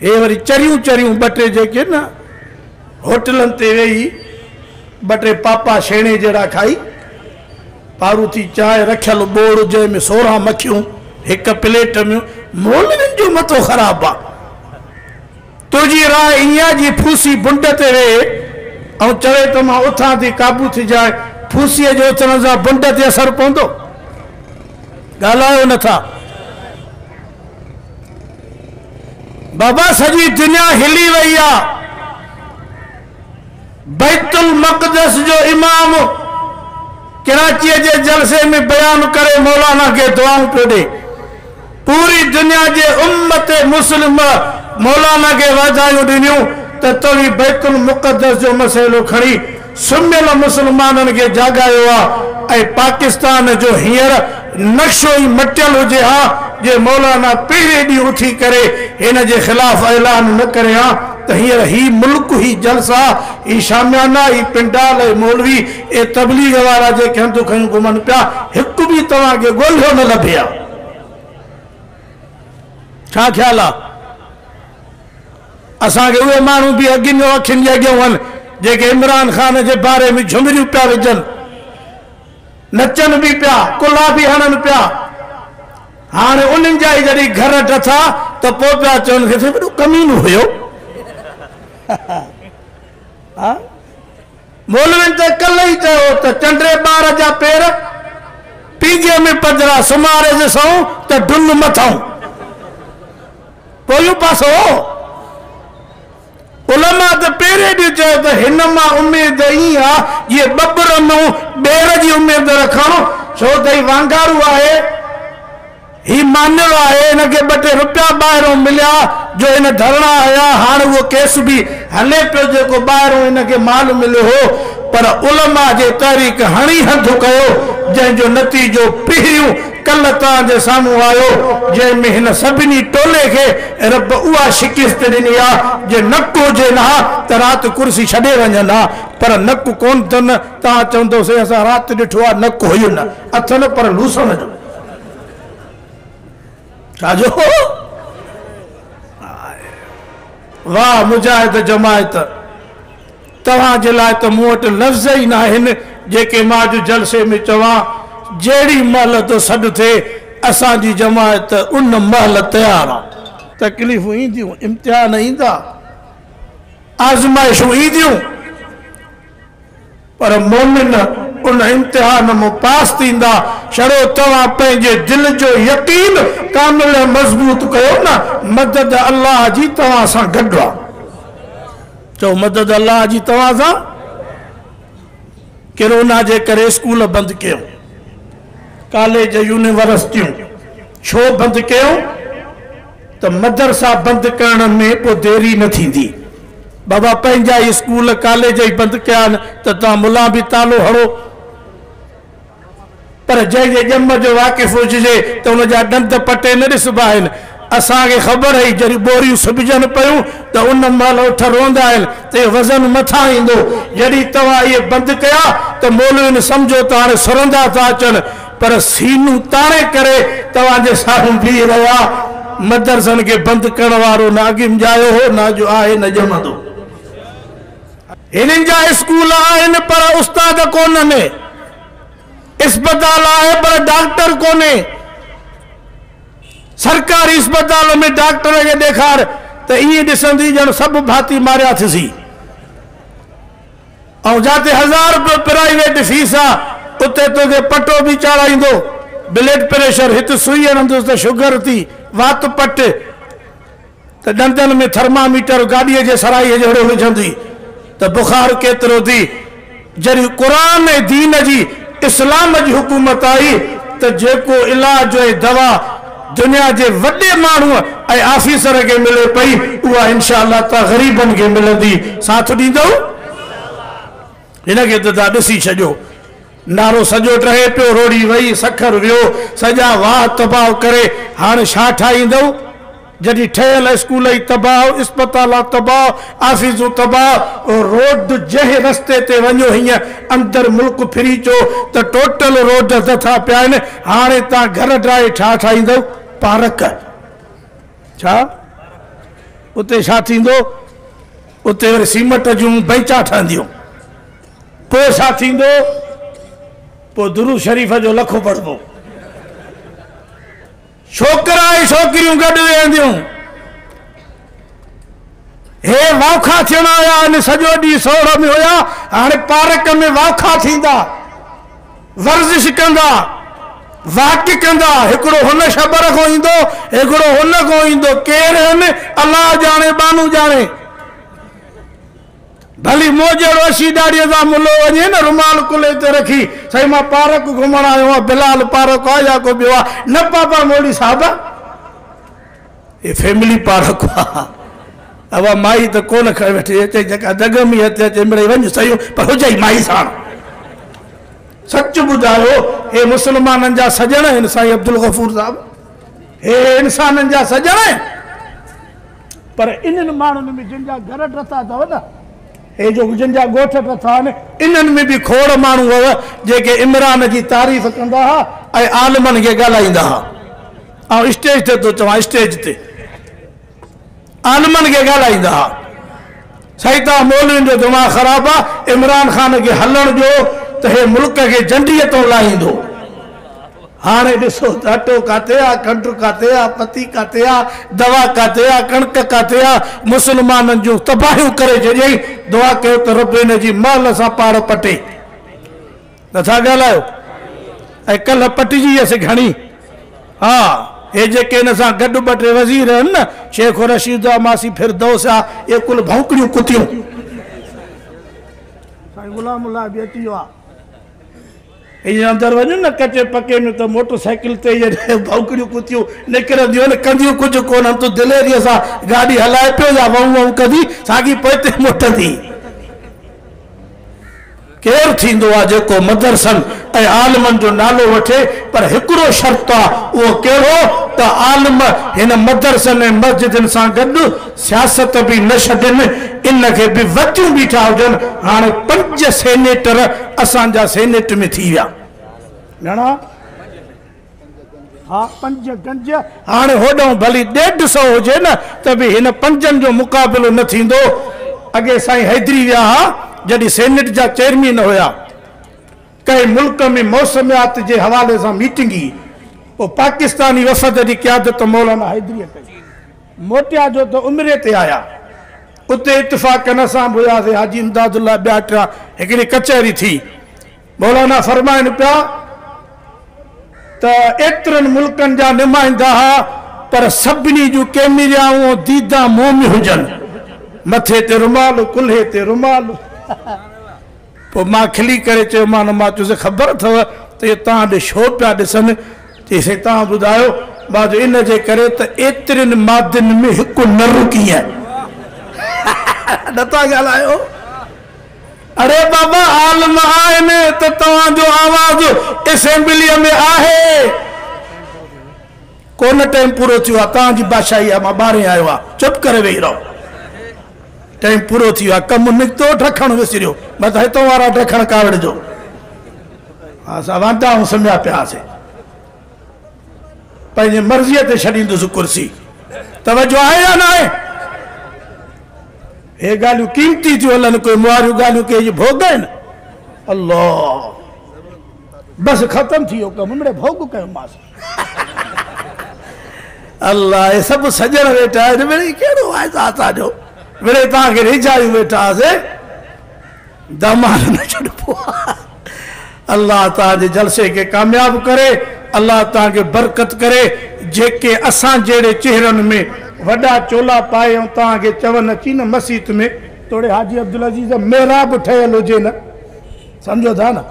هي وري چريون چريون ٻه ٽي جيڪي نه هوٽلن تي ويهي ٻه ٽي پاپا شيڻي جهڙا کائي، پاروٿي چانهه رکيل ٻوڙ جنهن ۾ سورهن مکيون هڪ پليٽ ۾. مولوين جو مٿو خراب آ. تنهنجي راء ائين آ جي ڦوسي بنڊ تي ويهي ۽ چوي ته مان اٿان ٿي قابو ٿي جاء، ڦوسيء جي اٿڻ سان بنڊ تي اثر پوندو؟ ڳالهايو نه ٿا. بابا سڄي دنيا هلي وئي آ بيت المقدس جو امام ڪراچي جي جلسي ۾ بيان ڪري مولانا کي دعائون پيو ڏي پوري دنيا جي امت مسلم مولانا کي واڌايون ڏنيون ته توهين بيت المقدس جو مسئلو کڻي سميل مسلمانن کي جاڳايو آ ۽ پاڪستان جو هينئر نقشو ئي مٽيل هجي ها جي مولانا پهرين ڏينهن اٿي ڪري هن جي خلاف اعلان نه ڪري ها ته هينئر هي ملڪ هي جلسا هي شاميانا هي پنڊال هي مولوي اي تبليغ وارا جيڪي هنڌون کنيون گهمن پيا هڪ به توهان کي ڳولهيو نه لڀي ها ڇا خيال آ. اسان کي اهي ماڻهو به اڳين جو اکين جي اڳيان هئن جيڪي عمران خان جي باري ۾ جهمريون پيا وجهن، نچن به پيا، ڪلها به هڻن پيا. هاڻي انهن جا ئي جڏهن گهر ڊٿا ته پوء پيا چون کيس وڏو ڪمينو هيو. مولوين ته ڪلهه ئي چيو هو ته چنڊري ٻار جا پير پينگهي ۾ پڌرا سمهاريس سئون ته ڊن مٿئون. پويون پاسو، علماء ته پهرين به چيو ته هن مان اميد ائين آ جيئن ٻٻر مون ٻير جي اميد رکڻ، ڇو ته هي وانگارو آهي، هي مانيل آهي، هن کي ٻه ٽي رپيا ٻاهرئون مليا جو هن ڌرڻا هنيا، هاڻ اهو ڪيس به هلي پيو جيڪو ٻاهرئون هن کي مال مليو هو، پر علماء جي تحريڪ هڻي هنڌ ڪيو، جنهن جو نتيجو پهريون ڪلهه توهان جي سامهون آيو، جنهن ۾ هن سڀني ٽولي کي رب اها شڪست ڏني آ، جي نڪ هجين ها ته رات ڪرسي ڇڏي وڃن ها، پر نڪ ڪونه تن، توهان چوندو سي اسان رات ڏٺو آ، نڪ هين اٿن پر لوسڻ جو. ڇا جو؟ هاء واء مجاهد جماعت. توهان جي لاء ته مون وٽ لفظ ئي ناهن جيڪي مان اڄ جلسي ۾ چوان، جهڙي مهل تو سڏ ٿئي، اسان جي جماعت ان مهل تيار آ. تڪليفون اينديون، امتحان ايندا، آزمائشون اينديون، پر مؤمن ان امتحان مان پاس ٿيندا، شڙو توهان پنهنجي دل جو يقين ڪامل ۽ مضبوط ڪيو نه، مدد الله جي توهان سان گڏ آ. چئو مدد الله جي توهان سان. ڪرونا جي ڪري اسڪول بند ڪيو، ڪاليج يونيورسٽيون ڇو بند ڪيو ته مدرسا بند ڪرڻ ۾ پو ديري نه ٿيندي، بابا پنهنجا ئي اسڪول ڪاليج ئي بند ڪيا آهن ته توهان ملان به تالو هڻو. پر جنهن جي ڄم جو واقف هججي ته ان جا ڏند پٽي نه ڏسبا آهن. اسان کي خبر هئي جڏهن ٻوريون سبجن پيون ته ان مهل اٺ روئندا آهن ته اهو وزن مٿان ايندو. جڏهن توهان اهي بند ڪيا ته مولوين سمجهو ته هاڻي سرندا ٿا اچن پر سينون تاڻي ڪري توهان جي سامهون بيهي رهيا. مدرسن کي بند ڪرڻ وارو نه اڳ مڄايو هو نه اڄ آهي نه ڄمندو. هنن جا اسڪول آهن پر استاد ڪونهن، اسپتال آهي پر ڊاڪٽر ڪونهي، سرڪاري اسپتال ۾ ڊاڪٽر کي ڏيکار ته ائين ڏسندي ڄڻ سڀ ڀاتي ماريا ٿسي ۽ جاتي هزار رپيو پرائيويٽ فيس آ اتي توکي پٽو به چاڙهائيندو، بلڊ پريشر هت سوئي هڻندس ته شگر ٿي وات پٽ. ته ڏندن ۾ ٿرما ميٽر گاڏيء جي سرائيء جهڙو وجهندي ته بخار ڪيترو ٿي. جڏهن قرآن ۽ دين جي اسلام جي حڪومت آئي ته جيڪو علاج ۽ دوا دنيا جي وڏي ماڻهوء ۽ آفيسر کي ملي پئي اها انشاء الله ته غريبن کي ملندي. ساٿ ڏيندؤ؟ هن کي ته ٿا ڏسي ڇڏيو. نارو سڄو ٽهي پيو، روڙي وئي، سکر ويو، سڄا واهه تباهه ڪري هاڻ ڇا ٺاهيندؤ؟ جڏهن ٺهيل اسڪول ئي تباهه، اسپتال تباهه، آفيسون تباهه، روڊ جنهن رستي تي وڃو هينئن اندر ملڪ ڦري چو ته ٽوٽل روڊ اڌ ٿا پيا آهن، هاڻي تان گهر ڊاهي ڇا ٺاهيندؤ؟ پارڪ ڇا؟ اتي ڇا ٿيندو؟ اتي وري سيمٽ جون بئنچا ٺهنديون. پوء ڇا ٿيندو؟ پوء درود شريف جو لکو پڙهبو. ڇوڪرا ۽ ڇوڪريون گڏ ويهنديون. هي واکا ٿيڻ آيا آهن، سڄو ڏينهن سوڙهه ۾ هيا، هاڻي پارڪ ۾ واکا ٿيندا، ورزش ڪندا، واڪ ڪندا، هڪڙو هن شبر کان ايندو، هڪڙو هن کان ايندو، ڪير هن، الله ڄاڻي، ٻانهون ڄاڻي. ڀلي مون جهڙو اشي ڏاڙهيء سان ملو وڃي نه، رومال ڪلهي تي رکي، سائين مان پارڪ گهمڻ آيو آهيان، بلال پارڪ آ يا ڪو ٻيو آ؟ نه پاپا مولوي صاحب، هي فيملي پارڪ آ، اها مائي ته ڪونه کڻي ويٺي اچي، جيڪا دڳ ۾ اچي اچي مڙئي وڃ سهيو، پر هجئي مائي ساڻ. سچ ٻڌايو، هي مسلمانن جا سڄڻ آهن سائين عبدالغفور صاحب، هي انسانن جا سڄڻ آهن. پر انهن ماڻهن ۾ جن جا گهر ٽٿا اٿئو نه، هي جو جن جا ڳوٺ ٽٿا آهن، انهن ۾ به کوڙ ماڻهو هئا، جيڪي عمران جي تعريف ڪندا ها ۽ عالمن کي ڳالهائيندا ها. آئون اسٽيج تي ٿو چوان، اسٽيج تي عالمن کي ڳالهائيندا ها. سائين توهان مولوين جو دماغ خراب آ عمران خان کي هلڻ ڏيو ته هي ملڪ کي جنڊي تون لاهيندو هاڻي ڏسو ته اٽو ڪاٿي آ کنڊ ڪاٿي آ پتي ڪاٿي آ دوا ڪاٿي آ ڪڻڪ ڪاٿي آ مسلمانن جون تباهيون ڪري ڇڏيائين دعا ڪيو ته رب هن جي مهل سان پاڙ پٽي. نه ٿا ڳالهايو ۽ ڪلهه پٽجي ويس گهڻي ها هي جيڪي هن سان گڏ ٻه ٽي وزير آهن نه شيخ و رشيد آ ماسي فردوس آ اهي ڪل ڀونڪڙيون ڪتيون سائين غلام الله به اچي ويو آ ائين اندر وڃن نه ڪچي پڪي ۾ ته موٽر سائيڪل تي جڏهن ڀونڪڙيون ڪتيون نڪرنديون آهن ڪنديون ڪجهه ڪون آهن تون دليري سان گاڏي هلائي پيو يا وئون وئون ڪندي ساڳي پوئتي موٽندي ڪير ٿيندو آ جيڪو مدرسن ۽ عالمن جو نالو وٺي پر هڪڙو شرط آ اهو ڪهڙو ته عالم هن مدرسن ۽ مسجدن سان گڏ سياست به نه ڇڏين ان کي به وتيون بيٺا هجن هاڻي پنج سينيٽر اسان جا سينيٽ ۾ ٿي ويا گهڻا ها پنج گنج هاڻي هوڏانهن ڀلي ڏيڍ سئو هجي نه ته به هن پنجن جو مقابلو نه ٿيندو. اڳي سائين حيدري ويا ها جڏهن سينيٽ جا چيئرمين هيا. ڪنهن ملڪ ۾ موسميات جي حوالي سان ميٽنگ هئي. پوء پاڪستاني وفد جي قيادت مولانا حيدريء ڪئي. موٽيا جو ته عمري تي آيا. اتي اتفاقن اسان به هياسين حاجي امداد الله ٻياٽ هڪڙي ڪچهري ٿي. مولانا فرمائن پيا ته ايترن ملڪن جا نمائندا ها پر سڀني جون ڪيميريائون ۽ ديدان منهن ۾ هجن، مٿي تي رومال ۽ ڪلهي تي رومال. پوء مان کلي ڪري چيومان، مان چيس خبر اٿئو ته اهي توهان ڏي ڇو پيا ڏسن؟ چيائين سائين توهان ٻڌايو؟ مان چيو ان جي ڪري ته ايترين مادين ۾ هڪ نر ڪيئن؟ نٿا ڳالهايو. اڙي بابا عالم آهن ته توهان جو آواز اسيمبليء ۾ آهي ڪونه ٽائيم پورو ٿيو آهي توهان جي بادشاهي مان ٻاهرين آيو آهي چپ ڪري ويهي رهو ٽائيم پورو ٿيو آهي ڪم نڪتو ڊکڻ وسريو بس هتو وارا ڊکڻ ڪاوڙ جو اسان واندا آهيون سميا پيا سي پنهنجي مرضيء تي ڇڏيندس ڪرسي. توجه آهي يا ناهي؟ هي ڳالهيون قيمتي ٿيون هلن، ڪوئي مواريون ڳالهيون ڪنهن جي ڀوڳ آهن؟ الله! بس ختم ٿي ويو ڪم، مڙئي ڀوڳ ڪيومانس. الله! اهي سڀ سڄڻ ويٺا آهن، مڙئي ڪهڙو آهي اسان جو، مڙئي توهان کي ريجهايون ويٺاسين. داماد نه ڇڏبو آ الله توهان جي جلسي کي ڪامياب ڪري الله توهان کي برڪت ڪري جيڪي اسان جهڙي چهرن ۾ وڏا چولا پائي ۽ توهان کي چون اچي نه مسيت ۾ توڙي حاجي عبدالعزيز جو محراب ٺهيل هجي نه سمجهو ٿا نه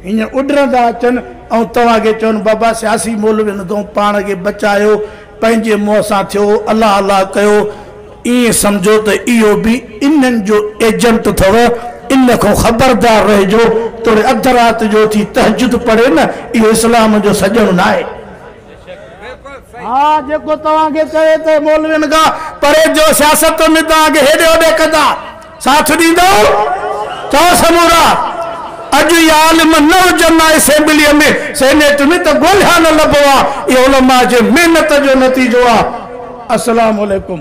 ايئن اڏرندا اچن ۽ توهان کي چون بابا سياسي مولوين تون پاڻ کي بچايو پنهنجي منهن سان ٿيو الله الله ڪيو ائين سمجهو ته اهو به انهن جو ايجنٽ اٿئو، ان کان خبردار رهجو، توڙي اڌ رات جو اٿي تهجد پڙهي نه، اهو اسلام جو سڄڻ ناهي. ها جيڪو توهان کي چوي ته مولوين کان پرهيز جو سياست ۾ توهان کي هيڏي هوڏي ڪندا. ساٿ ڏيندو ته سمورا اڄ اهي عالم نه هجن نه اسيمبليء ۾ سينيٽ ۾ ته ڳولهيا نه لڀو ها اهي علماء جي محنت جو نتيجو آهي السلام عليڪم.